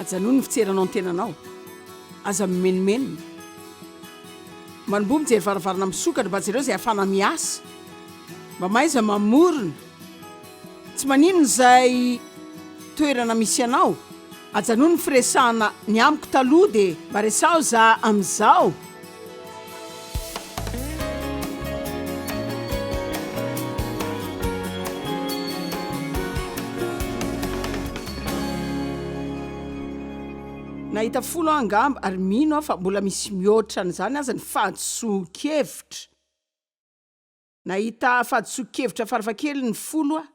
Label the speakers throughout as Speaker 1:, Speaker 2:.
Speaker 1: ajanony ny fitseranao ny tenanao aza mimenomenona manomboa mijery varavarana misokatra mba jereo izay afana miasa mba maiza mamorona tsy maninona izay toerana misy anao ajanony ny firesahana ny amiko taloha dia mba resaho za amin'izao Nahita folo aho angamba ary mino aho fa mbola misy mihoatra an'izany aza ny fahadisoan-kevitra. Nahita fahadisoan-kevitra farafahakeliny ny folo aho,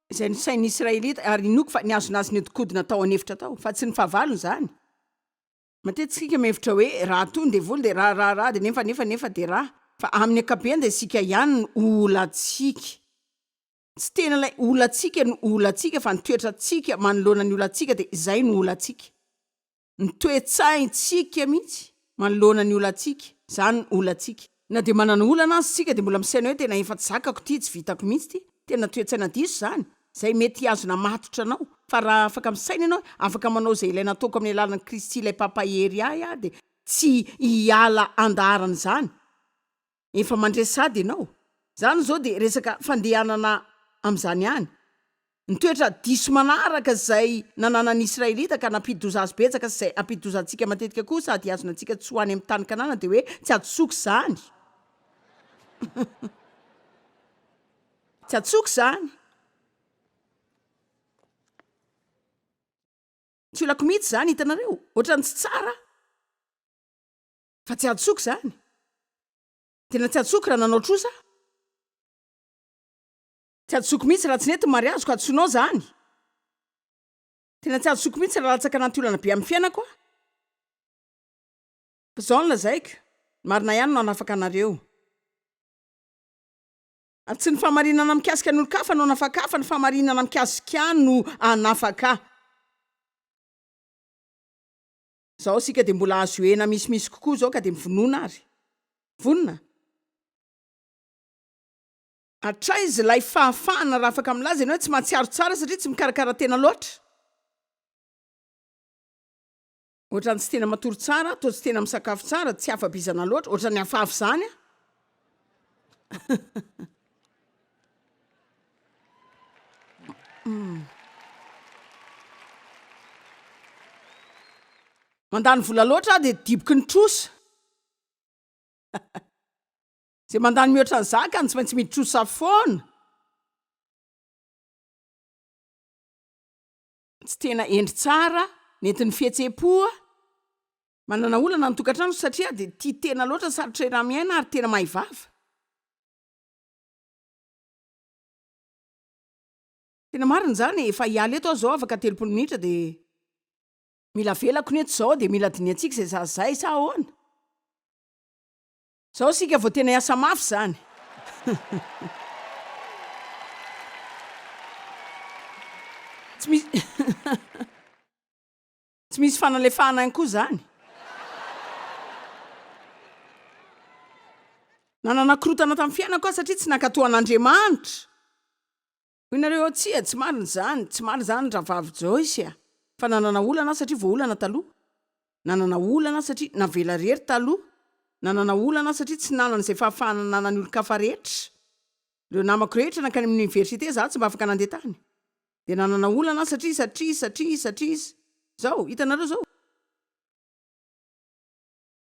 Speaker 1: izay ny sain'ny Israelita, ary inoako fa nihazona azy nihodinkodina tao an'efitra tao, fa tsy ny fahavalony izany. Matetika isika mihevitra hoe raha toa ny devoly dia raha raha raha dia nefa nefa nefa dia raha fa amin'ny ankapobeny dia isika ihany no olantsika. Tsy tena ilay olantsika no olantsika fa ny toetrantsika manoloana ny olantsika dia izay no olantsika. Ny toe-tsaintsika mihitsy manoloana ny olantsika, izany no olantsika. Na dia manana olana aza isika dia mbola misaina hoe tena efa tsy zakako ity, tsy vitako mihitsy ity, tena toe-tsaina diso izany, izay mety hihazona matotra anao. Fa raha afaka misaina ianao hoe afaka manao izay ilaina ataoko amin'ny alalan'i Kristy ilay Mpampahery ahy aho dia tsy hiala andaharan'izany. Efa mandresy sady ianao. Izany izao dia resaka fandehanana amin'izany ihany. Ny toetra diso manaraka izay nananan'ny Israelita ka nampidi-doza azy betsaka sy izay hampidi-doza antsika matetika koa sady hihazona antsika tsy ho any amin'ny tany Kanana dia hoe tsy hadisoako izany. Tsy hadisoako izany. Tsy olako mihitsy izany, hitanareo? Ohatran'ny tsy tsara, fa tsy hadisoako izany. Tena tsy hadisoako raha nanao trosa aho. Tsy ajotsoko mihitsy raha tsy nety ny mariazy ko antsoinao zany Tena tsy ajotsoko mihitsy raha latsaka anaty olana be amin'ny fiainako aho Fa zao no lazaiko Ny marina ihany no hanafaka anareo Ary tsy ny fahamarinana mikasika ny olon-kafa no hanafaka ahy fa ny fahamarinana mikasika ahy no hanafaka ahy Zao isika dia mbola azo iohena misimisy kokoa zao ka dia mivonona ary Vonona? Hatraiza ilay fahafahana raha afaka milaza ianao hoe tsy mahatsiaro tsara satria tsy mikarakara tena loatra? Ohatrany tsy tena matory tsara, toa tsy tena misakafo tsara, tsy afa-bizana loatra, ohatrany hafahafa izany an! Hmm. Mandany vola loatra aho dia diboky ny trosa. Zay mandany mihoatra ny zakany tsy maintsy mitrosa foana. Tsy tena endry tsara nentin'ny fihetsem-poa. Manana olana ny tokantrano satria dia tia tena loatra, sarotra iramiaina ary tena mahay vava. Tena marina izany e, efa hiala eto aho izao afaka telopolo minitra dia mila avelako ny eto izao dia mila dinihantsika izay sazy izay sa ahoana? Zao sika vao tena hiasa mafy zany. Tsy misy Tsy misy fanalefahana ihany koa zany. Nanana korotana tamin'ny fiainako aho satria tsy nankatoa an'Andriamanitra. Hoy nareo ao tsia, tsy marina izany, tsy marina izany Rahavavy Joyce a! Fa nanana olana aho satria voaolana taloha. Nanana olana aho satria navela irery taloha. Nanana olana aho satria tsy nanana izay fahafahana nanan'ny olon-kafa rehetra. Ireo namako rehetra nankany amin'ny oniversite, izaho tsy mba afaka nandeha tany. Dia nanana olana aho satria, satria, satria, satria izy. Izao, hitanareo izao?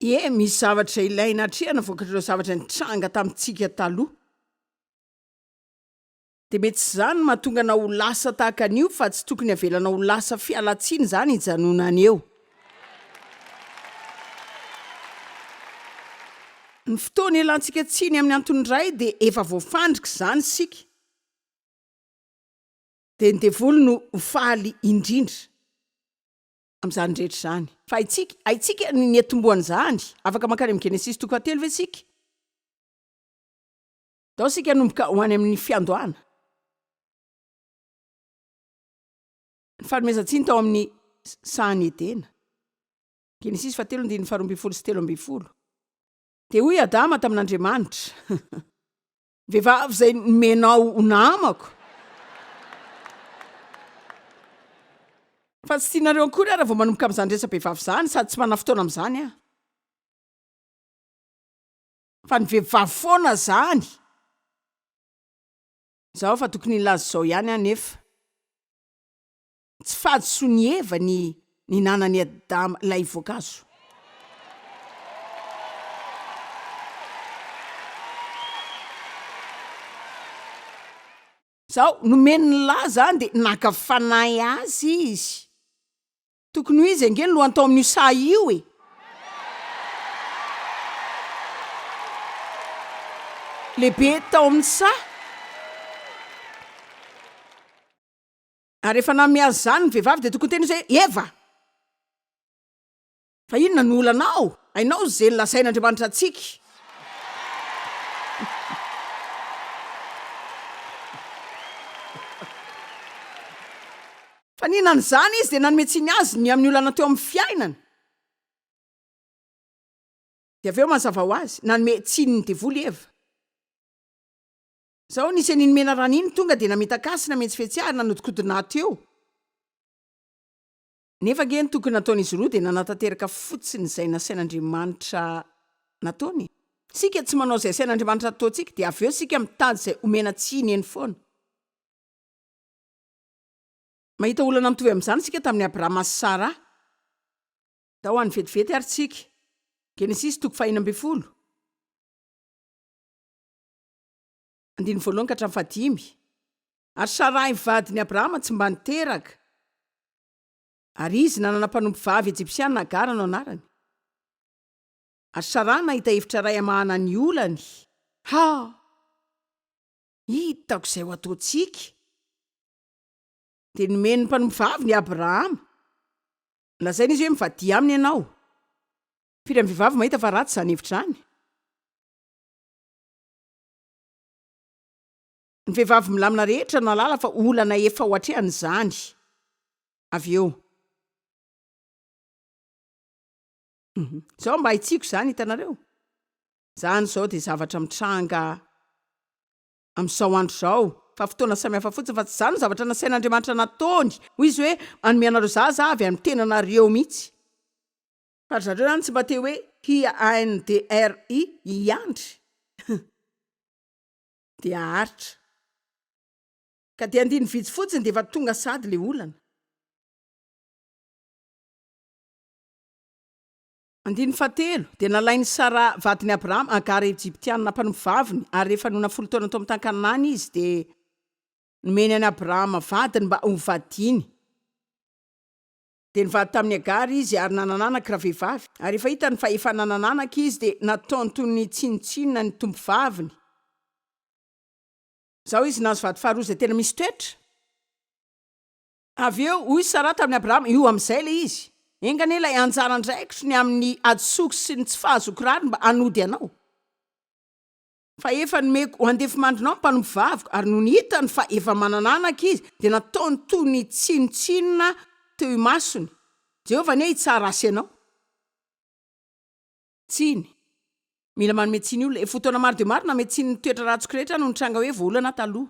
Speaker 1: Ie, misy zavatra izay ilaina atrehina vokatr'ireo zavatra nitranga tamintsika taloha. Dia mety izany no mahatonga anao ho lasa tahaka an'io fa tsy tokony havelanao ho lasa fialantsiny izany hijanonany eo. Ny fotoana ialantsika tsiny amin'ny antony iray dia efa voafandrika izany isika. Dia ny devoly no ho faly indrindra amin'izany rehetra izany. Fa haintsika, haintsika ny niatombohan'izany. Afaka mankany amin'ny Genesisy toko fahatelo ve isika? Tao isika hanomboka ho any amin'ny fiandohana. Ny fanomezan-tsiny tao amin'ny sahan'i Edena. Genesisy fahatelo andininy faharoa ambin'ny folo sy telo ambin'ny folo. Dia hoy Adama tamin'Andriamanitra, Ny vehivavy izay nomenao ho namako. Fa tsy tianareo akory aho raha vao manomboka amin'izany resa-behivavy izany, sady tsy manana fotoana amin'izany aho. Fa ny vevivavy foana zany. Zao fa tokony hilaza izao ihany aho nefa tsy fahadisoan'i Eva ny ninanan'i Adama ilay voankazo. Zao nomeny ny laza any dia naka fanahy azy izy. Tokony ho izy ange no lohantao amin'io sahy io e! Lehibe tao amin'ny saha. Ary rehefa nanome azy izany ny vehivavy dia tokony hiteny izy hoe, Eva! Fa inona no olanao? Hainao izay nolazain'Andriamanitra antsika. Fa nihinana izany izy dia nanome tsiny azy ny amin'ny olana teo amin'ny fiainany. Dia avy eo mazava ho azy, nanome tsiny ny devoly i Eva. Izao nisy an'iny menarana iny tonga dia namitaka sy namentsifetsy ary nanodikodina ahy teo. Nefa ange ny tokony nataon'izy roa dia nanatanteraka fotsiny izay nasain'Andriamanitra nataony e. Isika tsy manao izay asain'Andriamanitra hataontsika dia avy eo isika mitady izay omena tsiny eny foana. Mahita olana mitovy amin'izany isika tamin'i Abrahama sy Sara. Tao any vetivety ary tsika. Genesisy toko fahenina ambin'ny folo. Andininy voalohany ka hatramin'ny fahadimy. Ary Sarai vadin'i Abrahama tsy mba niteraka, ary izy nanana mpanompovavy Ejipsiana Agara no anarany. Ary Sara nahita hevitra iray hamahana ny olany. Ha! Hitako izay ho ataontsika. Dia nomeny ny mpanompovaviny i Abrahama. Nolazainy izy hoe, Mivadia aminy ianao. Firy amin'ny vehivavy mahita fa ratsy izany hevitra izany? Ny vehivavy milamina rehetra no hahalala fa olana efa ho hatrehany izany avy eo. Hum. Zao mba hitsiko zany hitanareo. Zany zao de zavatra mitranga amizao andro zao fa fotoana samy hafa fotsiny fa tsy zany no zavatra nasain'Andriamanitra nataony hoy izy hoe manome anareo zaza avy any tenanareo mitsy fa ry zareo zany tsy mba te hoe hia ANDRI hiandry hum. Dia haharitra. Ka dia andiny vitsy fotsiny dia efa tonga sady le olana. Andininy fahatelo, dia nalain'i Sara vadin'i Abrahama Hagara Ejiptiana mpanompo vaviny, ary rehefa nona folo taona tao amin'ny tany Kanana izy, dia nomeny an'i Abrahama vadiny mba hovadiany. Dia nivady tamin'i Hagara izy ary nanana anaka ravehivavy. Ary rehefa hitany fa efa nanana anaka izy, dia nataony toy ny tsinontsinona ny tompovaviny. Izao izy nahazo vady faharoa izay tena misy toetra. Avy eo, hoy i Saraha tamin'i Abrahama, Io amin'izay ilay izy. Enga anie ilay anjara andraikitro ny amin'ny hadisoako sy ny tsy fahazoako rariny mba hanody anao. Fa efa nomeko ho andefimandrinao ny mpanompovaviko. Ary nony hitany fa efa manana anaka izy, dia nataony toy ny tsinontsinona teo imasony, Jehovah anie hitsara azy sy ianao. Tsiny. Mila manome tsiny olona. Efa fotoana maro dia maro nanome tsiny ny toetra ratsiko rehetra no nitranga hoe voaolana taloha.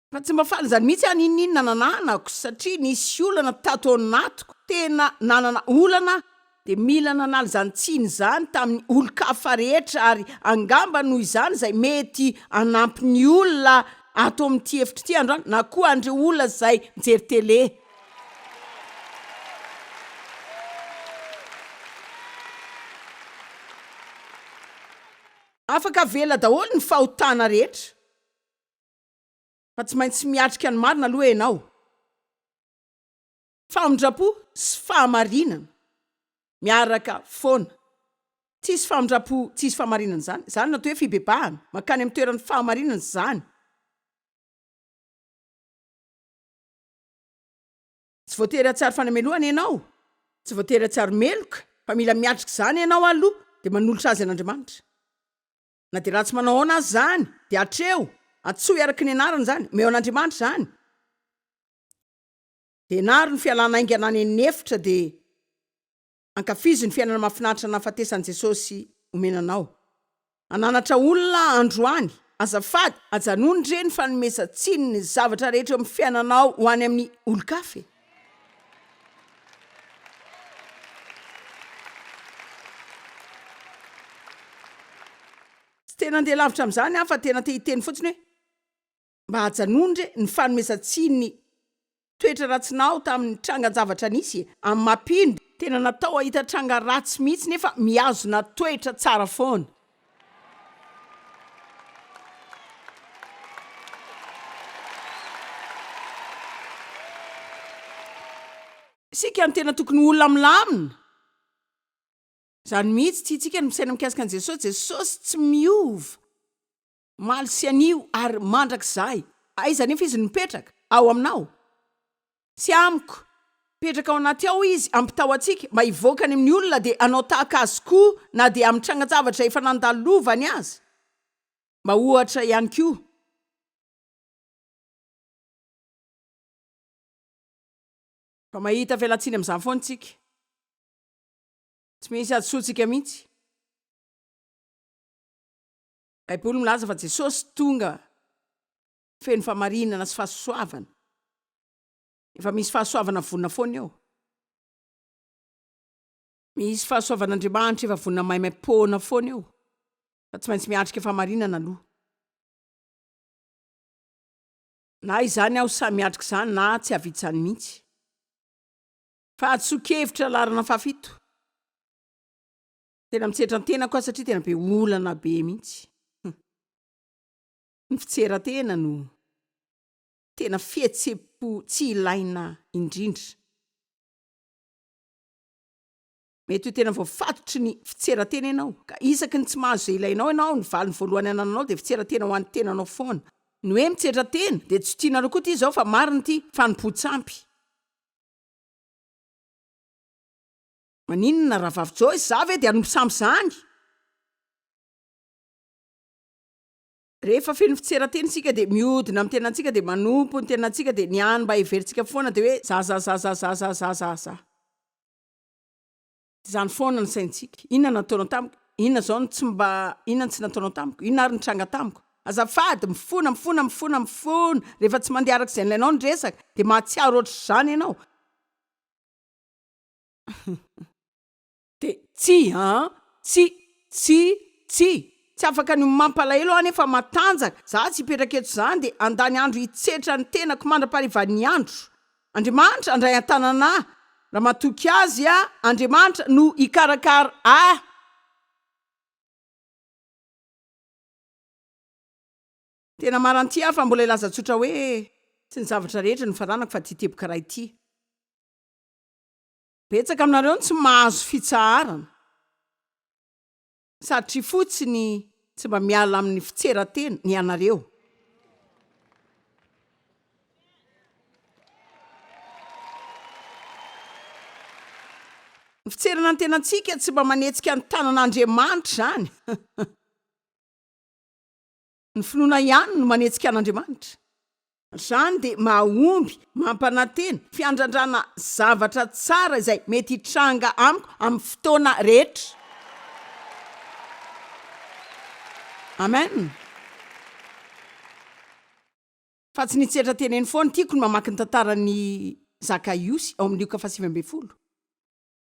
Speaker 1: Fa tsy mba faly izany mihitsy aho n'inon'inona nananako satria nisy olana tato anatiko, tena nanana olana aho dia mila nanala izany tsiny izany tamin'ny olon-kafa rehetra ary angamba noho izany izay mety hanampy ny olona ato amin'ity efitra ity androany na koa an'ireo olona izay mijery télé. Afaka avela daholo ny fahotana rehetra. fa tsy maintsy miatrika ny marina aloha ianao. Famindrampo sy fahamarinana miaraka foana. Tsisy famindrampo tsisy fahamarinana izany. Izany no atao hoe fibebahana. Mankany amin'ny toeran'ny fahamarinana izany. Tsy voatery hahatsiaro fanamenoana ianao, tsy voatery hahatsiaro meloka, fa mila miatrika izany ianao aloha, dia manolotra azy an'Andriamanitra. Na dia ratsy manao ahoana aza izany, dia atreho, antsoy araka ny anarany izany, omeo an'Andriamanitra izany. Dia ianaro ny fialana haingana any amin'ny efitra, dia ankafizo ny fiainana mahafinaritra nahafatesan'i Jesosy omena anao. Hananatra olona androany. Azafady, ajanony re ny fanomezan-tsiny ny zavatra rehetra eo amin'ny fiainanao ho any amin'ny olon-kafa e! Tsy te nandeha lavitra amin'izany aho fa tena te hiteny fotsiny hoe mba ajanony re ny fanomezan-tsiny toetra ratsinao tamin'ny trangan-javatra nisy amin'i Mapinbo. Tena natao hahita tranga ratsy mihitsy nefa mihazona toetra tsara foana. Isika no tena tokony ho olona milamina. Izany mihitsy, tiantsika ny misaina mikasika an'i Jesosy, Jesosy tsy miova. Maly sy anio ary mandrakizay. Aiza anefa izy no mipetraka? Ao aminao? Tsy amiko. Mipetraka ao anaty ao izy, ampitao antsika, mba hivoaka any amin'ny olona dia hanao tahaka azy koa na dia amin'ny trangan-javatra efa nandalovany aza. Mba ohatra ihany koa. Fa mahita fialantsiny amin'izany foana isika. Tsy misy hadisoantsika mihitsy. Baiboly milaza fa Jesosy tonga feno famarinana sy fahasoavana. Efa misy fahasoavana vonona foana eo. Misy fahasoavan'Andriamanitra efa vonona maimaim-poana foana eo, fa tsy maintsy miatrika famarinana aloha. Na izany aho sahy miatrika izany na tsy hahavita izany mihitsy. Fahadisoan-kevitra laharana fahafito. tena mitsetra ntenako a satria tena be olana be mihitsy ny fitserantena no tena fihetsepo tsy ilaina indrindra mety ho tena voafatotry ny fitserantena ianao ka isaky ny tsy mahazo zay ilainao ianao ny valiny voalohany anananao de fitserantena ho an'ny tenanao foana ny hoe mitsetra tena de tsy tianareo koa ty zao fa mariny ity fanompoan-tsampy Maninona rahavavy Joyce, za ve dia nompisambo zany? Rehefa feno fitserateny isika dia miodina amin'ny tenantsika dia manompo ny tenantsika dia ny any mba heverintsika foana dia hoe zazazazazazazaza. Izany foana ny saintsika. Inona no nataonao tamiko? Inona izao no tsy mba, inona no tsy nataonao tamiko? Inona ary ny tranga tamiko? Azafady, mifona, mifona, mifona, mifona, rehefa tsy mandeha araka izay nilainao ny resaka dia mahatsiaro ohatr'izany ianao. Dia tsy an! Tsy! Tsy! Tsy! Tsy afaka ny ho mampalahelo aho anefa matanjaka, za tsy hipetraka eto izany dia handany andro hitsetra ny tenako mandra-paharivan'ny andro. Andriamanitra handray an-tanana ahy, raha matoky Azy aho, Andriamanitra no hikarakara ahy. Tena maranty aho fa mbola hilaza tsotra hoe, Tsy ny zavatra rehetra no faranako fa ity teboka iray ity. Betsaka aminareo no tsy mahazo fitsaharana satria fotsiny tsy mba miala amin'ny fitseratena ianareo. Ny fitserana ny tenantsika tsy mba manetsika ny tanan'Andriamanitra izany. Ny finoana ihany no manetsika an'Andriamanitra. Izany dia mahomby mampanantena fiandrandrana zavatra tsara izay mety hitranga amiko amin'ny fotoana rehetra. Amen. Fa tsy ny tsy hetra teneno foana. Tiako ny mamaky ny tantaran'i Zakaiosy ao amin'ny Lioka fahasivy ambin'ny folo.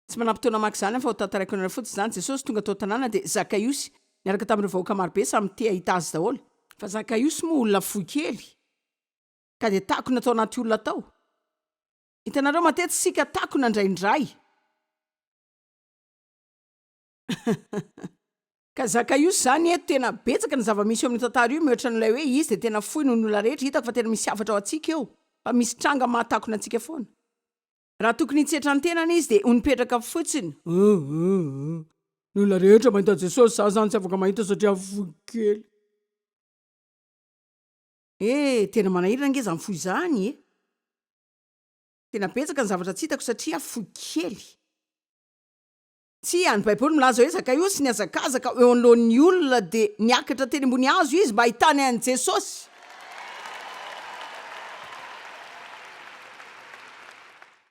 Speaker 1: Tsy manampy taona maka izany aho fa hotantaraiko anareo fotsiny izany, Jesosy tonga tao an-tanàna dia Zakaiosy niaraka tamin'ireo vahoaka marobe samy te hahita Azy daholo, fa Zakaiosy moa olona fohy kely ka dia takona tao anaty olona tao, hitanareo matetika isika takona indraindray, ka Zakaiosy izany eto tena betsaka ny zava-misy eo amin'io tantara io mihoatra an'ilay hoe Izy dia tena fohy noho ny olona rehetra, hitako fa tena misy hafatra ao antsika eo fa misy tranga mahatakona antsika foana. Raha tokony hitsetra ny tenany izy dia ho nipetraka fotsiny. Hum hum hum. Ny olona rehetra mahita Jesosy, za zany tsy afaka mahita satria fohy kely. Eh, tena manahirana ange zany fohy zany eh. Tena betsaka ny zavatra tsy hitako satria fohy kely. Tsia, ny Baiboly milaza hoe Zakaosy nihazakazaka eo anoloan'ny olona dia niakatra teny ambony hazo izy mba hahitany an'i Jesosy.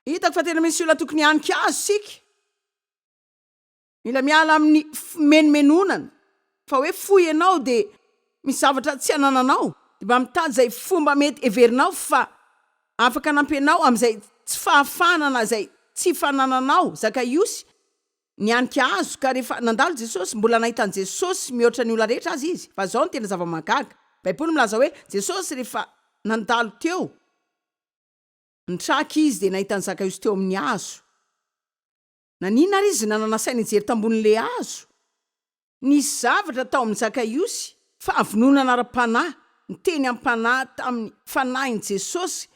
Speaker 1: Hitako fa tena misy olona tokony hihanika azy isika. Mila miala amin'ny fimenomenonana. fa hoe fohy ianao de misy zavatra tsy anananao de mba mitady zay fomba mety heverinao fa afaka anampianao amizay tsy fahafahana na zay tsy fanananao, Zakaïosy nianika hazo ka rehefa nandalo Jesosy mbola nahita an'i Jesosy mihoatra ny olona rehetra aza izy fa zao no tena zava-mahagaga, baiboly milaza hoe Jesosy rehefa nandalo teo ny traka izy de nahita an'i Zakaïosy teo amin'ny hazo. Naninona ary izy nanana saina hijery tambonin'ilay hazo? Nisy zavatra tao amin'i Zakaiosy, fahavononana ara-panahy, niteny am-panahy tamin'ny Fanahin'i Jesosy.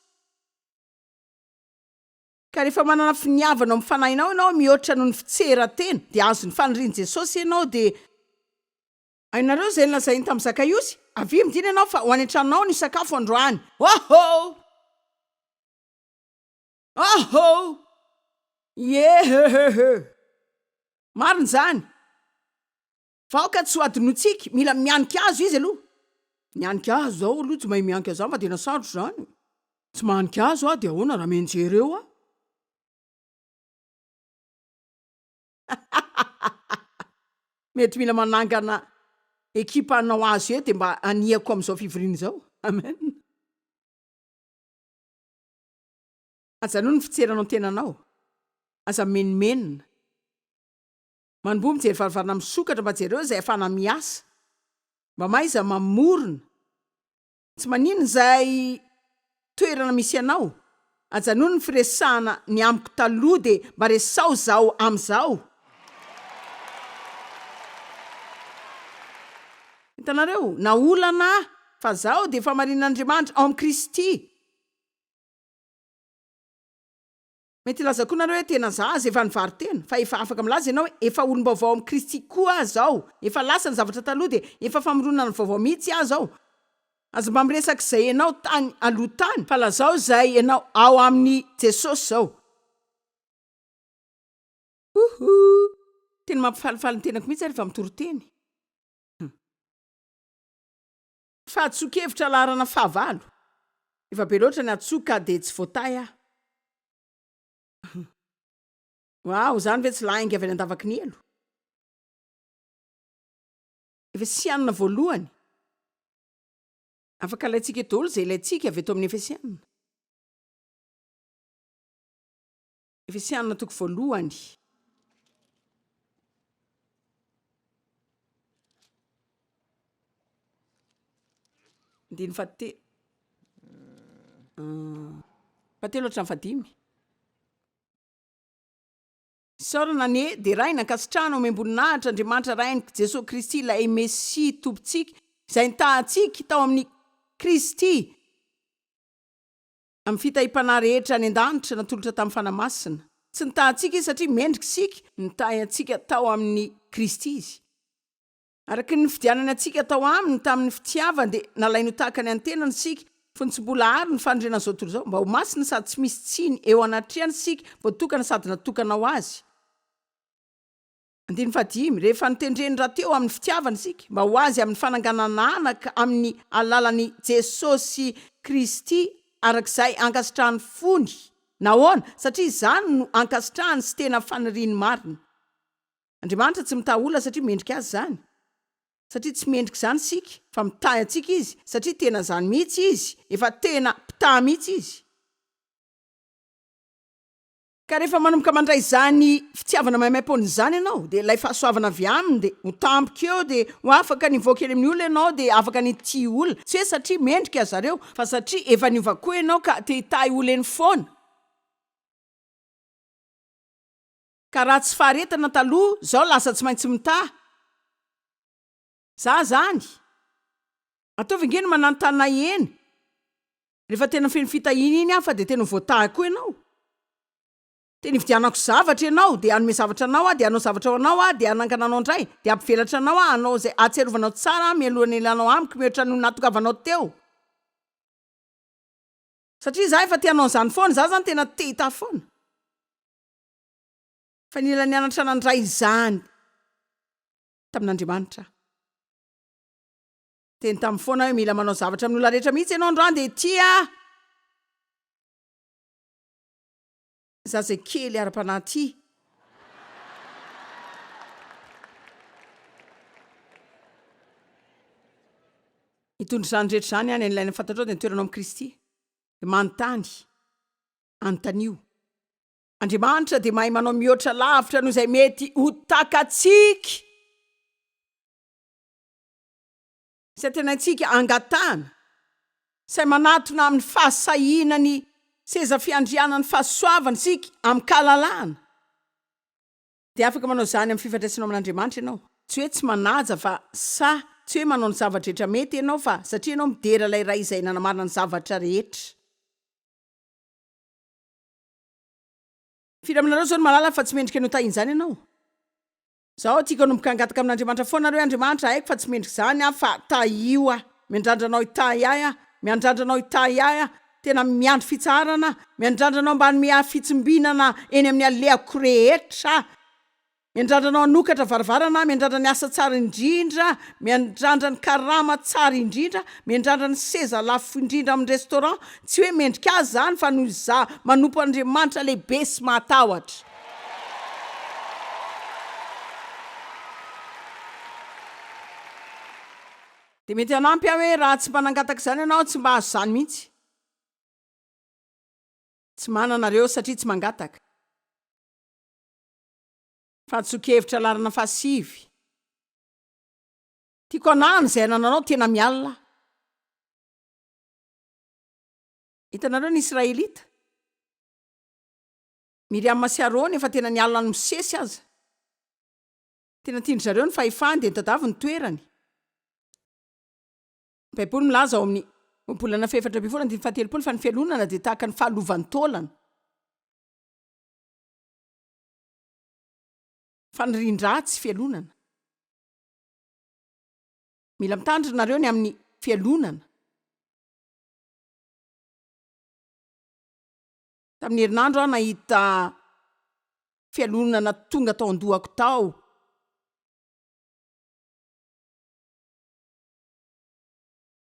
Speaker 1: Ka rehefa manana finiavana ao amin'ny fanahinao ianao mihoatra noho ny fitseran-tena, dia azon'ny fanirian'i Jesosy ianao, dia. Hainareo izay nolazainy tamin'i Zakaiosy? Avia, midina ianao, fa ho any an-tranonao no hisakafo androany. Hoho! Ahoo! Ieheheheh! Marina izany! Vahoka tsy ho adinointsika, mila mianika azy izy aloha. Nianika ahy izao aloha, tsy mahay mianika izany fa tena sarotra izany e! Tsy mahanika azy hoa dia ahoana raha mianjera eo aho? Mety mila manangana ekipa hanao azy eo dia mba hanihako amin'izao fivoriana izao. Amen. Ajanony ny fitserana ny tenanao. Aza mimenomenona. Manomboha mijery varavarana misokatra mba jereo izay afahana miasa. Mba mahaiza mamorona. Tsy maninona izay toerana misy anao. Ajanony ny firesahana ny amiko taloha dia mba resaho izaho amin'izao. Hitanareo? Na olana aho fa izaho dia efa marina an'Andriamanitra ao amin'i Kristy. Mety hilaza koa nareo hoe tena za aza efa nivaro-tena, fa efa afaka milaza ianao hoe efa olom-baovao amin'i Kristy koa aza aho, efa lasa ny zavatra taloha dia efa famoronana ny vaovao mihitsy aza aho. Aza mba miresaka izay ianao tany aloha tany, fa lazao izay ianao ao amin'i Jesosy izao. Huhuu! Tena mampifalifaly ny tenako mihitsy aho rehefa mitoriteny. Humm. Fahatsoan-kevitra laharana fahavalo. Efa be loatra ny atsoa ka dia tsy voatahy aho. Waouh, izany ve tsy lainga avy any an-davaky ny helo? Efesianina voalohany. Afaka alaintsika eto daholo izay ilaintsika avy eto amin'ny Efesianina. Efesiana toko voalohany. Andiny fahate- ah, fahatelo hatramin'ny fahadimy. Isaorana anie, derahina, ankasitrahana, omem-boninahitra Andriamanitra Rainiko, Jesoa Kristy ilay Mesia Tompontsika, izay nitaha antsika tao amin'ny Kristy. Amin'ny fitahiam-panahy rehetra any an-danitra natolotra tamin'ny Fanahy Masina. Tsy nitaha antsika Izy satria mendrika isika, nitahy antsika tao amin'i Kristy Izy. Araka ny nifidianany antsika tao Aminy tamin'ny fitiavany dia nalainy ho tahaka ny an'ny tenany isika, fony tsy mbola àry ny fanorenan'izao tontolo izao, mba ho masina sady tsy misy tsiny eo anatrehan isika, voatokana sady natokana ho Azy. Andininy fahadimy, Rehefa notendren'ny Ra teo amin'ny fitiavana isika mba ho Azy amin'ny fananganana anaka amin'ny alalan'i Jesosy Kristy araka izay ankasitrahan'ny fony. Nahoana? Satria izany no ankasitrahany sy tena faniriany marina. Andriamanitra tsy mitaha olona satria mendrika Azy izany, satria tsy mendrika izany isika, fa mitahy antsika Izy satria tena izany mihitsy Izy, efa tena mpitaha mihitsy Izy. Ka rehefa manomboka mandray izany fitiavana maimaipoana izany ianao dia ilay fahasoavana avy Aminy dia ho tampoka eo dia ho afaka ny hivoaka eny amin'ny olona ianao dia afaka ny hitia olona, tsy hoe satria mendrika aza reo fa satria efa niova koa ianao ka te hitahy olona eny foana. Ka raha tsy faharetana taloha, izao lasa tsy maintsy mitaha. Za zany! Ataovy ange ny manantana eny rehefa tena feno fitahiana iny aho fa dia tena ho voatahy koa ianao. Tena hividianako zavatra ianao dia hanome zavatra anao aho dia hanao zavatra ho anao aho dia hanangana anao indray dia hampivelatra anao aho hanao izay hahatsiarovanao tsara ahy mialohan'ny hialanao amiko mihoatra ny ho nahatongavanao teo satria za efa te hanao an'izany foana, za zany tena te hitahy foana fa nila nianatra nandray izany. tamin'Andriamanitra. Teny taminy foana hoe mila manao zavatra amin'ny olona rehetra mihitsy ianao androany dia tia zazakely ara-panahy tia. Hitondra izany rehetra izany any any ilaina fantatrao dia ny toeranao amin'i Kristy. Dia manontany, anontanio. Andriamanitra dia mahay manao mihoatra lavitra noho izay mety ho takatsika. Izay tenantsika angatahana, izay manatona amin'ny fahasahiana ny seza fiandrianan'ny fahasoavana isika amin-kalalahana, dia afaka manao izany amin'ny fifandraisanao amin'Andriamanitra ianao. Tsy hoe tsy manaja fa sahy, tsy hoe manao ny zava-drehetra mety ianao fa satria ianao midera ilay Ray izay nanamarina ny zavatra rehetra. Firy aminareo izao no mahalala fa tsy mendrika ny hotahin'izany ianao? Izaho tiako hanomboka hangataka amin'Andriamanitra foana ary hoe, Andriamanitra, haiko fa tsy mendrika izany aho, fa tahio aho. Miandrandra Anao hitahy ahy aho. Miandrandra Anao hitahy ahy aho. Tena miandry fitsaharana aho. Miandrandra Anao mba hanome ahy fitsimbinana eny amin'ny alehako rehetra aho. Miandrandra anao hanokatra varavarana, miandrandra ny asa tsara indrindra, miandrandra ny karama tsara indrindra, miandrandra ny seza lafo indrindra amin'ny restaurant, tsy hoe mendrika azy izany fa noho izaho manompo Andriamanitra lehibe sy mahatahotra. Dia mety hanampy aho hoe raha tsy mba nangataka izany ianao, tsy mba hahazo izany mihitsy. Tsy manana ireo satria tsy mangataka. Fantson-kevitra laharana fahasivy. Tiako anahany izay anananao tena mialona aho. Hitanareo ny Israelita? Miriama sy Arona efa tena nialona an'i Mosesy aza. Tena tian-dry zareo ny fahefany dia nitadiavy ny toerany. Ny Baiboly milaza ao amin'ny Ohabolana fahefatra ambin'ny folo andininy fahatelopolo fa ny fialonana dia tahaka ny fahalovantaolana. Fanirian-dratsy fialonana. Mila mitandrina nareo ny amin'ny fialonana. Tamin'ny herinandro aho nahita fialonana tonga tao an-dohako tao.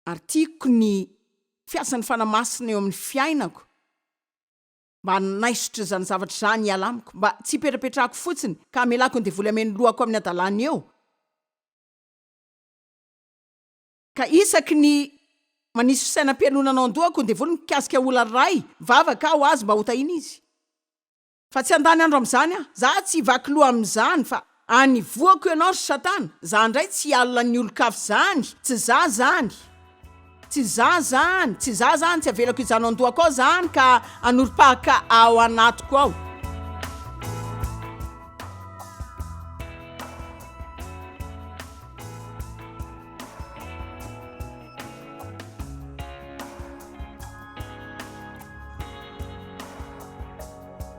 Speaker 1: Ary tiako ny fiasan'ny Fanahy Masina eo amin'ny fiainako. Mba hanaisotra izany zavatra izany hiala amiko, mba tsy hipetrapetrahako fotsiny, ka hamelako ny devoly hameno lohako amin'ny hadalany eo, ka isaky ny manisy fisainam-pialonana ao an-dohako ny devoly mikasika olona iray, mivavaka aho ho azy mba hotahiana izy. Fa tsy handany andro amin'izany aho. Izaho tsy hivaky loha amin'izany, fa Any voako ianao ry satana, za ndray tsy hialona ny olon-kafa zany, tsy za zany, tsy za zany, tsy za zany, tsy avelako hijanona ao an-dohako ao zany ka hanorim-pahaka ao anatiko ao.